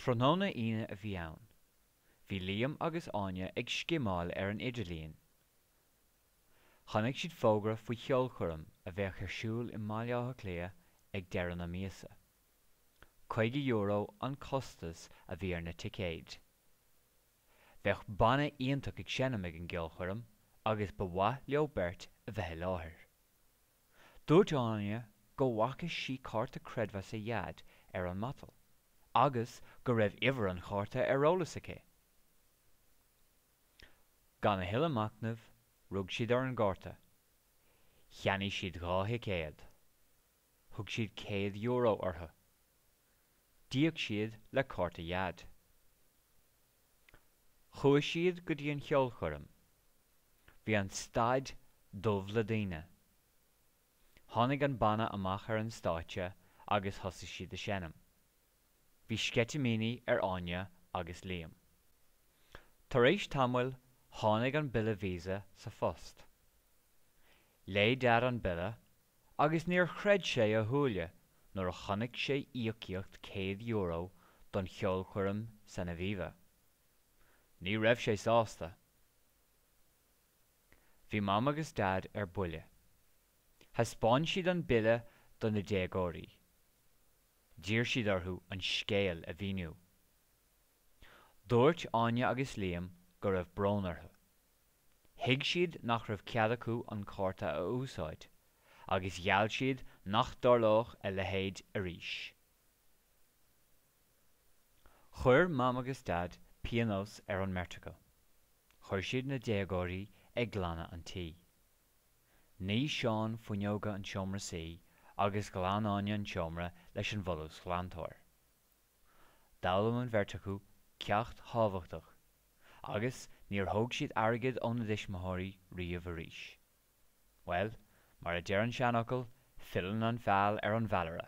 Tráthnóna Aoine a bhí ann. Bhí Liam agus Áine ag scimeáil ar an idirlíon. Chonaic siad fógra faoi cheolchoirm a bheadh ar siúl i mBaile Átha Cliath ag deireadh na míosa. €50 an costas a bhí ar na ticéid. Bheadh banna iontach ag seinm ag an gceolchoirm agus ba mhaith leo beirt a bheith i láthair. Dúirt Áine go bhfaca sí cárta creidmheasa Dhaid ar an matal agus go raibh uimhir an chárta ar eolas aici. Gan a thuilleadh machnaimh, rug siad ar an gcárta. Cheannaigh siad dhá thicéad. Thug siad céad euro orthu. D'íoc siad le cárta Dhaid. Chuaigh siad go dtí an cheolchoirm. Bhí an staid dubh le daoine. Tháinig an banna amach ar an stáitse agus thosaigh siad ag seinm. Bhí sceitimíní ar Áine agus Liam. Tar éis tamaill tháinig an bille Visa sa phost. Léigh Dad an bille agus níor chreid sé a shúile nuair a chonaic sé íocaíocht céad euro don cheolchoirm san Aviva. Ní raibh sé sásta. Bhí Mam agus Dad ar buile. Thaispeáin siad an bille do na déagóirí. D'iarr siad orthu an scéal a mhíniú. Dúirt Áine agus Liam go raibh brón orthu. Thuig siad nach raibh cead acu an cárta a úsáid, agus gheall siad nach dtarlódh a leithéid arís. Chuir Mam agus Daid pionós ar an mbeirt acu. Chuir siad na déagóirí ag glanadh an tí. Nigh Seán fuinneoga an tseomra suí agus ghlan Áine an tseomra leis an bhfolúsghlantóir. D'fhoghlaim an bheirt acu ceacht thábhachtach, agus níor thóg siad airgead óna dtuismitheoirí riamh arís. Bhuel, mar a deir an seanfhocal, filleann an feall ar an bhfeallaire.